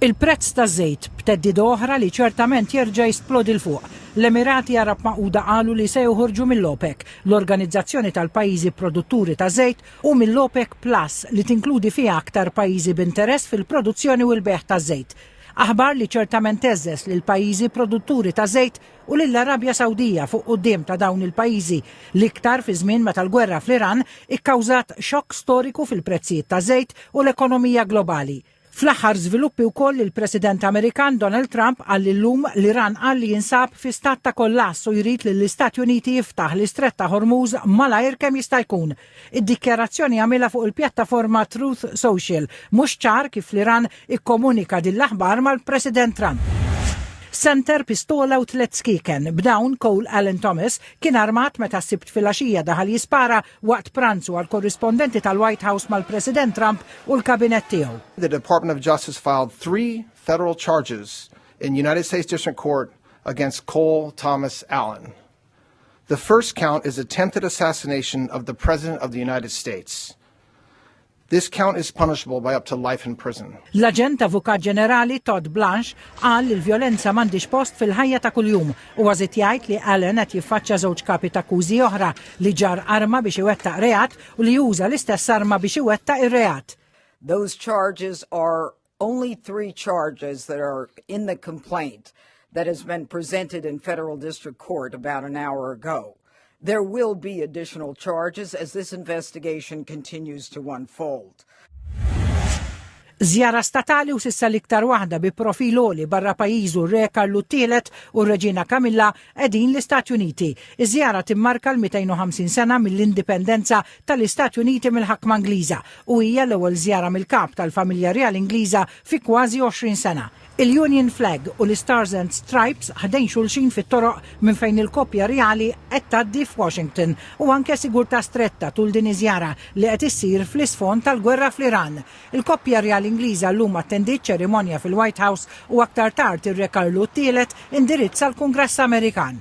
Il-prezz taż-żejt, b'theddida oħra li ċertament jerġa' jisplodi 'l fuq. L-Emirati Għarab Magħquda qalu li se joħorġu mill-OPEC, l-organizzazzjoni tal-pajjiżi produtturi ta' żejt, u mill-OPEC Plus, li tinkludi fiha aktar pajjiżi b'interess fil-produzzjoni u l-bejgħ taż-żejt. Aħbar li ċertament għeżżeż lill-pajjiżi produtturi ta' żejt u lill-Arabja Sawdija fuq quddiem ta' dawn il-pajjiżi, l-iktar fi żmien meta l-gwerra fl-Iran ikkawżat xokk storiku fil-prezzijiet taż-żejt u l-ekonomija globali. Fl-aħħar żviluppi wkoll il-President Amerikan Donald Trump qal illum l-Iran qal li jinsab fi stat ta' kollass u jrid lill-Istati Uniti jiftaħ l-Istrett ta' Hormuz malajr kemm jista' jkun. Id-dikjarazzjoni għamilha fuq il-pjattaforma Truth Social. Mhux ċar kif l-Iran ikkomunika din l-aħbar mal-President Trump. Center pistola u tliet skieken. B'dawn Cole Allen Thomas kien armat meta s-Sibt filgħaxija daħal jispara waqt pranzu għall-korrispondenti tal-White House mal-President Trump u l-Kabinett tiegħu. The Department of Justice filed three federal charges in United States District Court against Cole Thomas Allen. The first count is attempted assassination of the President of the United States. This count is punishable by up to life in prison. L-Aġent Avukat Ġenerali Todd Blanche qal li l-vjolenza m'għandix post fil-ħajja ta' kuljum u għażit jgħid li Allen qed jiffaċċja żewġ kapi ta' akkużi oħra li ġar arma biex iwettaq reat u li juża l-istess arma biex iwettaq ir-reat. Those charges are Only three charges that are in the complaint that has been presented in federal district court about an hour ago. There will be additional charges as this investigation continues to unfold. Zjara statali u sissa l-iktar waħda bi profil oli barra pajizu re Karlu Tielet u Reġina Kamilla Qegħdin l-Istati Uniti. Iż-żjara timmarka l-250 sena mill-indipendenza tal-Istati Uniti mill-ħakma Ingliża u hija l-ewwel żjara mill-Kap tal-Familja Rjali Ingliża fi kważi 20 sena. Il-Union Flag u l-Stars and Stripes ħdejn xulxin fit-toroq minn fejn il-koppja rjali qed tgħaddi f'Washington u anke sigurtà stretta tul din iż-żjara li qed issir fl-isfond tal-gwerra fl-Iran. Il-koppja rjali Ingliża llum attendiet ċerimonja fil-White House u aktar tard ir-Re Karlu t-Tielet indirizza l-Kungress Amerikan.